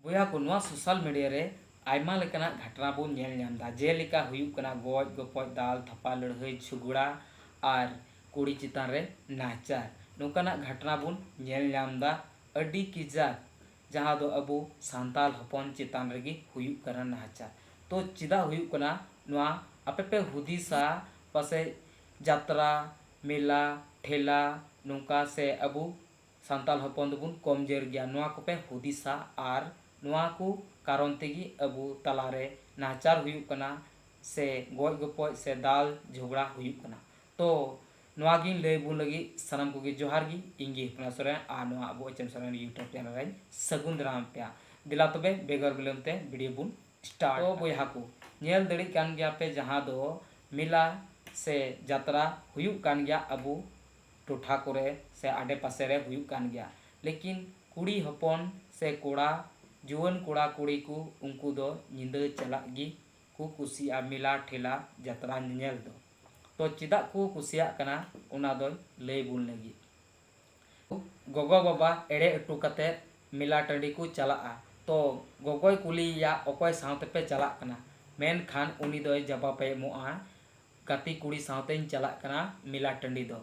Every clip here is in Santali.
ᱵᱚᱭᱦᱟ ᱠᱚ ᱱᱚᱣᱟ ᱥᱳᱥᱟᱞ ᱢᱤᱰᱤᱭᱟ ᱨᱮ ᱟᱭᱢᱟ ᱞᱮᱠᱟᱱᱟᱜ ᱜᱷᱟᱴᱱᱟ ᱵᱚᱱ ᱧᱮᱞ ᱧᱟᱢ ᱮᱫᱟ ᱡᱮᱞᱮᱠᱟ ᱦᱩᱭᱩᱜ ᱠᱟᱱᱟ ᱜᱚᱡ ᱜᱚᱯᱚᱡ ᱫᱟᱞ ᱛᱷᱟᱯᱟ ᱞᱟᱹᱲᱦᱟᱹᱭ ᱡᱷᱚᱜᱽᱲᱟ ᱟᱨ ᱠᱩᱲᱤ ᱪᱮᱛᱟᱱ ᱨᱮ ᱱᱟᱦᱟᱪᱟᱨ ᱱᱚᱝᱠᱟᱱᱟᱜ ᱜᱷᱟᱴᱱᱟ ᱵᱚᱱ ᱧᱮᱞ ᱧᱟᱢ ᱮᱫᱟ ᱟᱹᱰᱤ ᱠᱮᱡᱟᱠ ᱡᱟᱦᱟᱸ ᱫᱚ ᱟᱵᱚ ᱥᱟᱱᱛᱟᱲ ᱦᱚᱯᱚᱱ ᱪᱮᱛᱟᱱ ᱨᱮᱜᱮ ᱦᱩᱭᱩᱜ ᱠᱟᱱᱟ ᱱᱟᱦᱟᱪᱟᱨ ᱛᱚ ᱪᱮᱫᱟᱜ ᱦᱩᱭᱩᱜ ᱠᱟᱱᱟ ᱱᱚᱣᱟ ᱟᱯᱮ ᱯᱮ ᱦᱩᱫᱤᱥᱟ ᱯᱟᱥᱮᱡ ᱡᱟᱛᱨᱟ ᱢᱮᱞᱟ ᱴᱷᱮᱞᱟ ᱱᱚᱝᱠᱟ ᱥᱮ ᱟᱵᱚ ᱥᱟᱱᱛᱟᱞ ᱦᱚᱯᱚᱱ ᱫᱚ ᱵᱚᱱ ᱠᱚᱢᱡᱚᱨ ᱜᱮᱭᱟ ᱱᱚᱣᱟ ᱠᱚ ᱯᱮ ᱦᱩᱫᱤᱥᱟ ᱟᱨ ᱱᱚᱣᱟ ᱠᱚ ᱠᱟᱨᱚᱱ ᱛᱮ ᱜᱮ ᱟᱵᱚ ᱛᱟᱞᱟ ᱨᱮ ᱱᱟᱦᱟᱪᱟᱨ ᱦᱩᱭᱩᱜ ᱠᱟᱱᱟ ᱥᱮ ᱜᱚᱡ ᱜᱚᱯᱚᱡ ᱥᱮ ᱫᱟᱞ ᱡᱷᱚᱜᱽᱲᱟ ᱦᱩᱭᱩᱜ ᱠᱟᱱᱟ ᱛᱚ ᱱᱚᱣᱟ ᱜᱮᱧ ᱞᱟᱹᱭ ᱟᱵᱚᱱ ᱞᱟᱹᱜᱤᱫ ᱥᱟᱱᱟᱢ ᱠᱚ ᱜᱮ ᱡᱚᱦᱟᱨ ᱜᱮ ᱤᱧ ᱜᱮ ᱦᱚᱯᱚᱱᱟ ᱥᱚᱨᱮᱱ ᱟᱨ ᱱᱚᱣᱟ ᱟᱵᱚ H M Soren YouTube channel ᱨᱮᱧ ᱥᱟᱹᱜᱩᱱ ᱫᱟᱨᱟᱢ ᱯᱮᱭᱟ ᱫᱮᱞᱟ ᱛᱚᱵᱮ ᱵᱮᱜᱚᱨ ᱵᱤᱞᱚᱢ ᱛᱮ ᱵᱷᱤᱰᱤᱭᱳ ᱵᱚᱱ ᱥᱴᱟᱨᱴ ᱛᱚ ᱵᱚᱭᱦᱟ ᱠᱚ ᱧᱮᱞ ᱫᱟᱲᱮᱜ ᱠᱟᱱ ᱜᱮᱭᱟ ᱯᱮ ᱡᱟᱦᱟᱸ ᱫᱚ ᱢᱮᱞᱟ ᱥᱮ ᱡᱟᱛᱨᱟ ᱦᱩᱭᱩᱜ ᱠᱟᱱ ᱜᱮᱭᱟ ᱟᱵᱚ ᱴᱚᱴᱷᱟ ᱠᱚᱨᱮ ᱥᱮ ᱟᱰᱮ ᱯᱟᱥᱮ ᱨᱮ ᱦᱩᱭᱩᱜ ᱠᱟᱱ ᱜᱮᱭᱟ ᱞᱮᱠᱤᱱ ᱠᱩᱲᱤ ᱦᱚᱯᱚᱱ ᱥᱮ ᱠᱚᱲᱟ ᱡᱩᱣᱟᱹᱱ ᱠᱚᱲᱟ ᱠᱩᱲᱤ ᱠᱚ ᱩᱱᱠᱩ ᱫᱚ ᱧᱤᱫᱟᱹ ᱪᱟᱞᱟᱜ ᱜᱮ ᱠᱚ ᱠᱩᱥᱤᱭᱟᱜᱼᱟ ᱢᱮᱞᱟ ᱴᱷᱮᱞᱟ ᱡᱟᱛᱨᱟ ᱧᱮᱧᱮᱞ ᱫᱚ ᱛᱚ ᱪᱮᱫᱟᱜ ᱠᱚ ᱠᱩᱥᱤᱭᱟᱜ ᱠᱟᱱᱟ ᱚᱱᱟ ᱫᱚᱭ ᱞᱟᱹᱭ ᱵᱚᱱ ᱞᱟᱹᱜᱤᱫ ᱜᱚᱜᱚ ᱵᱟᱵᱟ ᱮᱲᱮ ᱚᱴᱚ ᱠᱟᱛᱮ ᱢᱮᱞᱟ ᱴᱟᱺᱰᱤ ᱠᱚ ᱪᱟᱞᱟᱜᱼᱟ ᱛᱚ ᱜᱚᱜᱚᱭ ᱠᱩᱞᱤᱭᱮᱭᱟ ᱚᱠᱚᱭ ᱥᱟᱶᱛᱮ ᱯᱮ ᱪᱟᱞᱟᱜ ᱠᱟᱱᱟ ᱢᱮᱱᱠᱷᱟᱱ ᱩᱱᱤ ᱫᱚᱭ ᱡᱟᱵᱟᱵᱮ ᱮᱢᱚᱜᱼᱟ ᱜᱟᱛᱤ ᱠᱩᱲᱤ ᱥᱟᱶᱛᱮᱧ ᱪᱟᱞᱟᱜ ᱠᱟᱱᱟ ᱢᱮᱞᱟ ᱴᱟᱺᱰᱤ ᱫᱚ᱾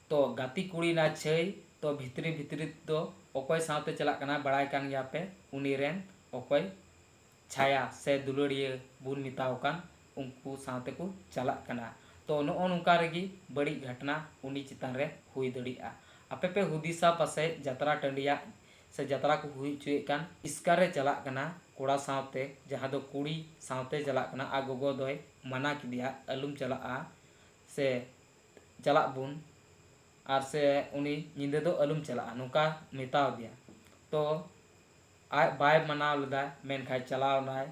ᱛᱚ ᱜᱟᱛᱤ ᱠᱩᱲᱤ ᱱᱟ ᱪᱷᱟᱹᱭ ᱛᱚ ᱵᱷᱤᱛᱨᱤ ᱵᱷᱤᱛᱨᱤ ᱛᱫᱚ ᱚᱠᱚᱭ ᱥᱟᱶᱛᱮ ᱪᱟᱞᱟᱜ ᱠᱟᱱᱟ ᱵᱟᱲᱟᱭ ᱠᱟᱱ ᱜᱮᱭᱟ ᱯᱮ ᱩᱱᱤ ᱨᱮᱱ ᱚᱠᱚᱭ ᱪᱷᱟᱭᱟ ᱥᱮ ᱫᱩᱞᱟᱹᱲᱤᱭᱟᱹ ᱵᱩᱱ ᱢᱮᱛᱟᱣ ᱠᱟᱱ ᱩᱱᱠᱩ ᱥᱟᱶᱛᱮ ᱠᱚ ᱪᱟᱞᱟᱜ ᱠᱟᱱᱟ᱾ ᱛᱚ ᱱᱚᱜᱼᱚ ᱱᱚᱝᱠᱟ ᱨᱮᱜᱮ ᱵᱟᱹᱲᱤᱡ ᱜᱷᱟᱴᱱᱟ ᱩᱱᱤ ᱪᱮᱛᱟᱱ ᱨᱮ ᱦᱩᱭ ᱫᱟᱲᱮᱭᱟᱜᱼᱟ᱾ ᱟᱯᱮ ᱯᱮ ᱦᱩᱫᱤᱥᱟ ᱯᱟᱥᱮᱡ ᱡᱟᱛᱨᱟ ᱴᱟᱺᱰᱤᱭᱟᱜ ᱥᱮ ᱡᱟᱛᱨᱟ ᱠᱚ ᱦᱩᱭ ᱚᱪᱚᱭᱮᱫ ᱠᱟᱱ ᱤᱥᱠᱟᱨ ᱨᱮ ᱪᱟᱞᱟᱜ ᱠᱟᱱᱟ ᱠᱚᱲᱟ ᱥᱟᱶᱛᱮ ᱡᱟᱦᱟᱸ ᱫᱚ ᱠᱩᱲᱤ ᱥᱟᱶᱛᱮ ᱪᱟᱞᱟᱜ ᱠᱟᱱᱟ ᱟᱨ ᱜᱚᱜᱚ ᱫᱚᱭ ᱢᱟᱱᱟ ᱠᱮᱫᱮᱭᱟ ᱟᱞᱚᱢ ᱪᱟᱞᱟᱜᱼᱟ ᱥᱮ ᱪᱟᱞᱟᱜ ᱵᱚᱱ ᱟᱨ ᱥᱮ ᱩᱱᱤ ᱧᱤᱫᱟᱹ ᱫᱚ ᱟᱞᱚᱢ ᱪᱟᱞᱟᱜᱼᱟ ᱱᱚᱝᱠᱟ ᱢᱮᱛᱟ ᱟᱫᱮᱭᱟ ᱛᱚ ᱟᱡ ᱵᱟᱭ ᱢᱟᱱᱟᱣ ᱞᱮᱫᱟ ᱢᱮᱱᱠᱷᱟᱱ ᱪᱟᱞᱟᱣ ᱮᱱᱟᱭ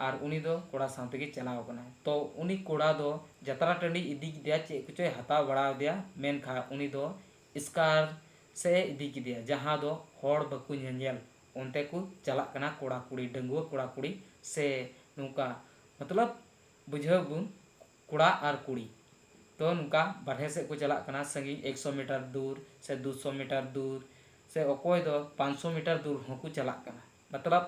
ᱟᱨ ᱩᱱᱤ ᱫᱚ ᱠᱚᱲᱟ ᱥᱟᱶ ᱛᱮᱜᱮ ᱪᱟᱞᱟᱣ ᱟᱠᱟᱱᱟᱭ ᱛᱚ ᱩᱱᱤ ᱠᱚᱲᱟ ᱫᱚ ᱡᱟᱛᱨᱟ ᱴᱟᱺᱰᱤᱭ ᱤᱫᱤ ᱠᱮᱫᱮᱭᱟ ᱪᱮᱫ ᱠᱚᱪᱚᱭ ᱦᱟᱛᱟᱣ ᱵᱟᱲᱟ ᱟᱫᱮᱭᱟ ᱢᱮᱱᱠᱷᱟᱱ ᱩᱱᱤ ᱫᱚ ᱮᱥᱠᱟᱨ ᱥᱮᱫ ᱮ ᱤᱫᱤ ᱠᱮᱫᱮᱭᱟ ᱡᱟᱦᱟᱸ ᱫᱚ ᱦᱚᱲ ᱵᱟᱠᱚ ᱧᱮᱧᱮᱞ ᱚᱱᱛᱮ ᱠᱚ ᱪᱟᱞᱟᱜ ᱠᱟᱱᱟ ᱠᱚᱲᱟ ᱠᱩᱲᱤ ᱰᱟᱺᱜᱩᱣᱟᱹ ᱠᱚᱲᱟ ᱠᱩᱲᱤ ᱥᱮ ᱱᱚᱝᱠᱟ ᱢᱚᱛᱞᱚᱵᱽ ᱵᱩᱡᱷᱟᱹᱣ ᱟᱵᱚᱱ ᱠᱚᱲᱟ ᱟᱨ ᱠᱩᱲᱤ ᱛᱚ ᱱᱚᱝᱠᱟ ᱵᱟᱨᱦᱮ ᱥᱮᱫ ᱠᱚ ᱪᱟᱞᱟᱜ ᱠᱟᱱᱟ ᱥᱟᱺᱜᱤᱧ ᱮᱠ ᱥᱚ ᱢᱤᱴᱟᱨ ᱫᱩᱨ ᱥᱮ ᱫᱩ ᱥᱚ ᱢᱤᱴᱟᱨ ᱫᱩᱨ ᱥᱮ ᱚᱠᱚᱭ ᱫᱚ ᱯᱟᱸᱪ ᱥᱚ ᱢᱤᱴᱟᱨ ᱫᱩᱨ ᱦᱚᱸᱠᱚ ᱪᱟᱞᱟᱜ ᱠᱟᱱᱟ ᱢᱚᱛᱞᱚᱵᱽ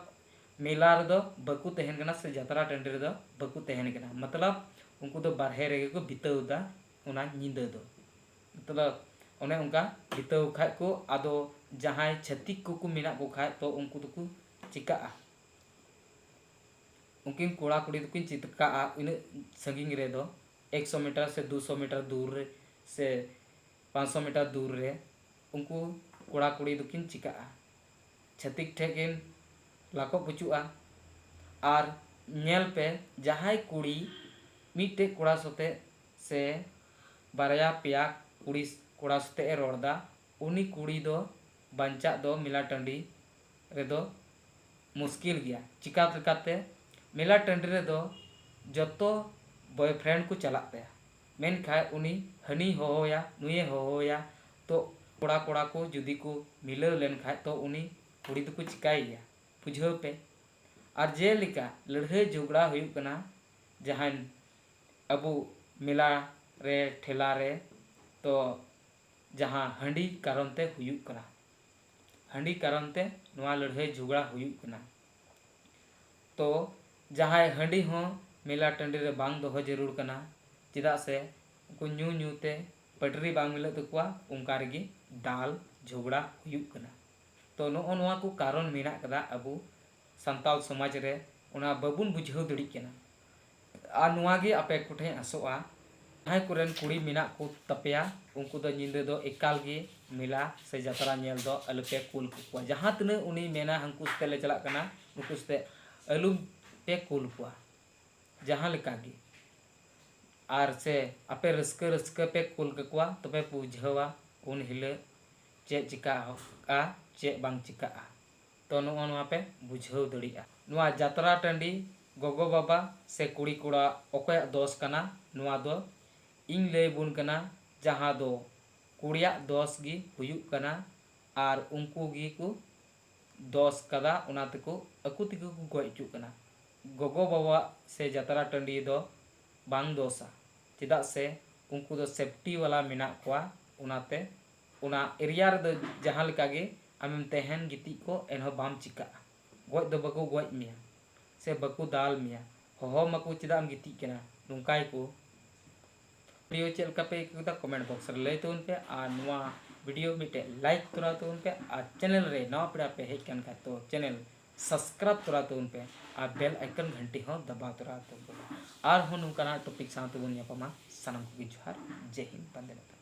ᱢᱮᱞᱟ ᱨᱮᱫᱚ ᱵᱟᱠᱚ ᱛᱟᱦᱮᱱ ᱠᱟᱱᱟ ᱥᱮ ᱡᱟᱛᱨᱟ ᱴᱟᱺᱰᱤ ᱨᱮᱫᱚ ᱵᱟᱠᱚ ᱛᱟᱦᱮᱱ ᱠᱟᱱᱟ ᱢᱚᱛᱞᱚᱵᱽ ᱩᱱᱠᱩ ᱫᱚ ᱵᱟᱨᱦᱮ ᱨᱮᱜᱮ ᱠᱚ ᱵᱤᱛᱟᱹᱣ ᱮᱫᱟ ᱚᱱᱟ ᱧᱤᱫᱟᱹ ᱫᱚ ᱢᱚᱛᱞᱚᱵᱽ ᱚᱱᱮ ᱚᱱᱠᱟ ᱡᱤᱛᱟᱹᱣ ᱠᱷᱟᱡ ᱠᱚ ᱟᱫᱚ ᱡᱟᱦᱟᱸᱭ ᱪᱷᱟᱹᱛᱤᱠ ᱠᱚ ᱠᱚ ᱢᱮᱱᱟᱜ ᱠᱚ ᱠᱷᱟᱡ ᱛᱚ ᱩᱱᱠᱩ ᱫᱚ ᱠᱚ ᱪᱤᱠᱟᱹᱜᱼᱟ ᱩᱱᱠᱤᱱ ᱠᱚᱲᱟ ᱠᱩᱲᱤ ᱫᱚ ᱠᱤᱱ ᱪᱤᱠᱟᱹᱜᱼᱟ ᱤᱱᱟᱹᱜ ᱥᱟᱺᱜᱤᱧ ᱨᱮ ᱫᱚ ᱮᱠᱥᱚ ᱢᱤᱴᱟᱨ ᱥᱮ ᱫᱩ ᱥᱚ ᱢᱤᱴᱟᱨ ᱫᱩᱨ ᱨᱮ ᱥᱮ ᱯᱟᱸᱪ ᱥᱚ ᱢᱤᱴᱟᱨ ᱫᱩᱨ ᱨᱮ ᱩᱱᱠᱩ ᱠᱚᱲᱟ ᱠᱩᱲᱤ ᱫᱚ ᱠᱤᱱ ᱪᱤᱠᱟᱹᱜᱼᱟ ᱪᱷᱟᱹᱛᱤᱠ ᱴᱷᱮᱱ ᱠᱤᱱ ᱞᱟᱠᱚᱜ ᱯᱩᱪᱩᱜᱼᱟ ᱟᱨ ᱧᱮᱞ ᱯᱮ ᱡᱟᱦᱟᱸᱭ ᱠᱩᱲᱤ ᱢᱤᱫᱴᱮᱱ ᱠᱚᱲᱟ ᱥᱟᱛᱮ ᱥᱮ ᱵᱟᱨᱭᱟ ᱯᱮᱭᱟ ᱠᱩᱲᱤ ᱠᱚᱲᱟ ᱥᱚᱛᱮᱜ ᱮ ᱨᱚᱲ ᱫᱟ ᱩᱱᱤ ᱠᱩᱲᱤ ᱫᱚ ᱵᱟᱧᱪᱟᱜ ᱫᱚ ᱢᱮᱞᱟ ᱴᱟᱺᱰᱤ ᱨᱮᱫᱚ ᱢᱩᱥᱠᱤᱞ ᱜᱮᱭᱟ ᱪᱤᱠᱟ ᱞᱮᱠᱟᱛᱮ ᱢᱮᱞᱟ ᱴᱟᱺᱰᱤ ᱨᱮᱫᱚ ᱡᱚᱛᱚ ᱵᱚᱭᱯᱷᱨᱮᱱᱰ ᱠᱚ ᱪᱟᱞᱟᱜ ᱛᱟᱭᱟ ᱢᱮᱱᱠᱷᱟᱡ ᱩᱱᱤ ᱦᱟᱹᱱᱤᱭ ᱦᱚᱦᱚᱣᱟᱭᱟ ᱱᱩᱭᱮ ᱦᱚᱦᱚᱣᱟᱭᱟ ᱛᱚ ᱠᱚᱲᱟ ᱠᱚᱲᱟ ᱠᱚ ᱡᱩᱫᱤ ᱠᱚ ᱢᱤᱞᱟᱹᱣ ᱞᱮᱱ ᱠᱷᱟᱡ ᱛᱚ ᱩᱱᱤ ᱠᱩᱲᱤ ᱫᱚᱠᱚ ᱪᱤᱠᱟᱭ ᱜᱮᱭᱟ ᱵᱩᱡᱷᱟᱹᱣ ᱯᱮ ᱟᱨ ᱡᱮᱞᱮᱠᱟ ᱞᱟᱹᱲᱦᱟᱹᱭ ᱡᱷᱚᱜᱽᱲᱟ ᱦᱩᱭᱩᱜ ᱠᱟᱱᱟ ᱡᱟᱦᱟᱸᱭ ᱟᱵᱚ ᱢᱮᱞᱟ ᱨᱮ ᱴᱷᱮᱞᱟ ᱨᱮ ᱛᱚ ᱡᱟᱦᱟᱸ ᱦᱟᱺᱰᱤ ᱠᱟᱨᱚᱱ ᱛᱮ ᱦᱩᱭᱩᱜ ᱠᱟᱱᱟ ᱦᱟᱺᱰᱤ ᱠᱟᱨᱚᱱ ᱛᱮ ᱱᱚᱣᱟ ᱞᱟᱹᱲᱦᱟᱹᱭ ᱡᱷᱚᱜᱽᱲᱟ ᱦᱩᱭᱩᱜ ᱠᱟᱱᱟ ᱛᱚ ᱡᱟᱦᱟᱸᱭ ᱦᱟᱺᱰᱤ ᱦᱚᱸ ᱢᱮᱞᱟ ᱴᱟᱺᱰᱤ ᱨᱮ ᱵᱟᱝ ᱫᱚᱦᱚ ᱡᱟᱹᱨᱩᱲ ᱠᱟᱱᱟ ᱪᱮᱫᱟᱜ ᱥᱮ ᱩᱱᱠᱩ ᱧᱩ ᱧᱩ ᱛᱮ ᱯᱟᱹᱴᱨᱤ ᱵᱟᱝ ᱢᱤᱞᱟᱹᱜ ᱛᱟᱠᱚᱣᱟ ᱚᱱᱠᱟ ᱨᱮᱜᱮ ᱫᱟᱞ ᱡᱷᱚᱜᱽᱲᱟ ᱦᱩᱭᱩᱜ ᱠᱟᱱᱟ ᱛᱚ ᱱᱚᱜᱼᱚ ᱱᱚᱣᱟ ᱠᱚ ᱠᱟᱨᱚᱱ ᱢᱮᱱᱟᱜ ᱠᱟᱫᱟ ᱟᱵᱚ ᱥᱟᱱᱛᱟᱞ ᱥᱚᱢᱟᱡᱽ ᱨᱮ ᱚᱱᱟ ᱵᱟᱵᱩᱱ ᱵᱩᱡᱷᱟᱹᱣ ᱫᱟᱲᱤᱜ ᱠᱟᱱᱟ ᱟᱨ ᱱᱚᱣᱟ ᱜᱮ ᱟᱯᱮ ᱠᱚᱴᱷᱮᱱ ᱟᱥᱚᱜᱼᱟ ᱡᱟᱦᱟᱸᱭ ᱠᱚᱨᱮᱱ ᱠᱩᱲᱤ ᱢᱮᱱᱟᱜ ᱠᱚ ᱛᱟᱯᱮᱭᱟ ᱩᱱᱠᱩ ᱫᱚ ᱧᱤᱫᱟᱹ ᱫᱚ ᱮᱠᱟᱞ ᱜᱮ ᱢᱮᱞᱟ ᱥᱮ ᱡᱟᱛᱨᱟ ᱧᱮᱞ ᱫᱚ ᱟᱞᱚ ᱯᱮ ᱠᱩᱞ ᱠᱟᱠᱚᱣᱟ ᱡᱟᱦᱟᱸ ᱛᱤᱱᱟᱹᱜ ᱩᱱᱤ ᱢᱮᱱᱟ ᱦᱟᱝᱠᱩ ᱥᱟᱛᱮ ᱞᱮ ᱪᱟᱞᱟᱜ ᱠᱟᱱᱟ ᱱᱩᱠᱩ ᱥᱟᱛᱮ ᱟᱞᱚ ᱯᱮ ᱠᱩᱞ ᱠᱚᱣᱟ ᱡᱟᱦᱟᱸ ᱞᱮᱠᱟ ᱜᱮ ᱟᱨ ᱥᱮ ᱟᱯᱮ ᱨᱟᱹᱥᱠᱟᱹ ᱨᱟᱹᱥᱠᱟᱹ ᱯᱮ ᱠᱩᱞ ᱠᱟᱠᱚᱣᱟ ᱛᱚᱵᱮ ᱯᱮ ᱵᱩᱡᱷᱟᱹᱣᱟ ᱩᱱ ᱦᱤᱞᱟᱹᱜ ᱪᱮᱫ ᱪᱮᱠᱟᱜᱼᱟ ᱪᱮᱫ ᱵᱟᱝ ᱪᱮᱠᱟᱜᱼᱟ ᱛᱚ ᱱᱚᱜᱼᱚ ᱱᱚᱣᱟ ᱯᱮ ᱵᱩᱡᱷᱟᱹᱣ ᱫᱟᱲᱮᱜᱼᱟ᱾ ᱱᱚᱣᱟ ᱡᱟᱛᱨᱟ ᱴᱟᱺᱰᱤ ᱜᱚᱜᱚ ᱵᱟᱵᱟ ᱥᱮ ᱠᱩᱲᱤ ᱠᱚᱲᱟ ᱚᱠᱚᱭᱟᱜ ᱫᱚᱥ ᱠᱟᱱᱟ ᱱᱚᱣᱟ ᱫᱚ ᱤᱧ ᱞᱟᱹᱭ ᱵᱚᱱ ᱠᱟᱱᱟ ᱡᱟᱦᱟᱸ ᱫᱚ ᱠᱩᱲᱤᱭᱟᱜ ᱫᱚᱥ ᱜᱮ ᱦᱩᱭᱩᱜ ᱠᱟᱱᱟ ᱟᱨ ᱩᱱᱠᱩ ᱜᱮ ᱠᱚ ᱫᱚᱥ ᱠᱟᱫᱟ ᱚᱱᱟ ᱛᱮᱠᱚ ᱟᱠᱚ ᱛᱮᱜᱮ ᱠᱚ ᱜᱚᱡ ᱚᱪᱚᱜ ᱠᱟᱱᱟ ᱜᱚᱜᱚ ᱵᱟᱵᱟᱣᱟᱜ ᱥᱮ ᱡᱟᱛᱨᱟ ᱴᱟᱺᱰᱤ ᱫᱚ ᱵᱟᱝ ᱫᱚᱥᱟ ᱪᱮᱫᱟᱜ ᱥᱮ ᱩᱱᱠᱩ ᱫᱚ ᱥᱮᱯᱴᱤ ᱵᱟᱞᱟ ᱢᱮᱱᱟᱜ ᱠᱚᱣᱟ ᱚᱱᱟᱛᱮ ᱚᱱᱟ ᱮᱨᱤᱭᱟ ᱨᱮᱫᱚ ᱡᱟᱦᱟᱸ ᱞᱮᱠᱟ ᱜᱮ ᱟᱢᱮᱢ ᱛᱟᱦᱮᱸᱱ ᱜᱤᱛᱤᱡ ᱠᱚᱜ ᱮᱱᱦᱚᱸ ᱵᱟᱢ ᱪᱤᱠᱟᱹᱜᱼᱟ᱾ ᱜᱚᱡ ᱫᱚ ᱵᱟᱠᱚ ᱜᱚᱡ ᱢᱮᱭᱟ ᱥᱮ ᱵᱟᱠᱚ ᱫᱟᱞ ᱢᱮᱭᱟ᱾ ᱦᱚᱦᱚ ᱟᱢᱟ ᱠᱚ ᱪᱮᱫᱟᱜ ᱮᱢ ᱜᱤᱛᱤᱡ ᱠᱟᱱᱟ ᱱᱚᱝᱠᱟ ᱜᱮᱠᱚ ᱵᱷᱤᱰᱤᱭᱳ ᱪᱮᱫ ᱞᱮᱠᱟ ᱯᱮ ᱟᱹᱭᱠᱟᱹᱣ ᱠᱮᱫᱟ ᱠᱚᱢᱮᱱᱴ ᱵᱚᱠᱥ ᱨᱮ ᱞᱟᱹᱭ ᱛᱟᱵᱚᱱ ᱯᱮ ᱟᱨ ᱱᱚᱣᱟ ᱵᱷᱤᱰᱤᱭᱳ ᱢᱤᱫᱴᱮᱡ ᱞᱟᱭᱤᱠ ᱛᱚᱨᱟᱣ ᱛᱟᱵᱚᱱ ᱯᱮ ᱟᱨ ᱪᱮᱱᱮᱞ ᱨᱮ ᱱᱟᱣᱟ ᱯᱮᱲᱟ ᱯᱮ ᱦᱮᱡ ᱠᱟᱱ ᱠᱷᱟᱡ ᱛᱚ ᱪᱮᱱᱮᱞ ᱥᱟᱥᱠᱨᱟᱵ ᱛᱚᱨᱟᱣ ᱛᱟᱵᱚᱱ ᱯᱮ ᱟᱨ ᱵᱮᱞ ᱟᱭᱠᱚᱱ ᱜᱷᱟᱱᱴᱤ ᱦᱚᱸ ᱫᱟᱵᱟᱣ ᱛᱚᱨᱟᱣ ᱛᱟᱵᱚᱱ ᱯᱮ ᱟᱨᱦᱚᱸ ᱱᱚᱝᱠᱟᱱᱟᱜ ᱴᱚᱯᱤᱠ ᱥᱟᱶ ᱛᱮᱵᱚᱱ ᱧᱟᱯᱟᱢᱟ ᱥᱟᱱᱟᱢ ᱠᱚᱜᱮ ᱡᱚᱦᱟᱨ ᱡᱮ ᱦᱤᱱᱫ ᱵᱟᱱᱫᱮ ᱢᱟᱛᱟᱨᱚᱢ᱾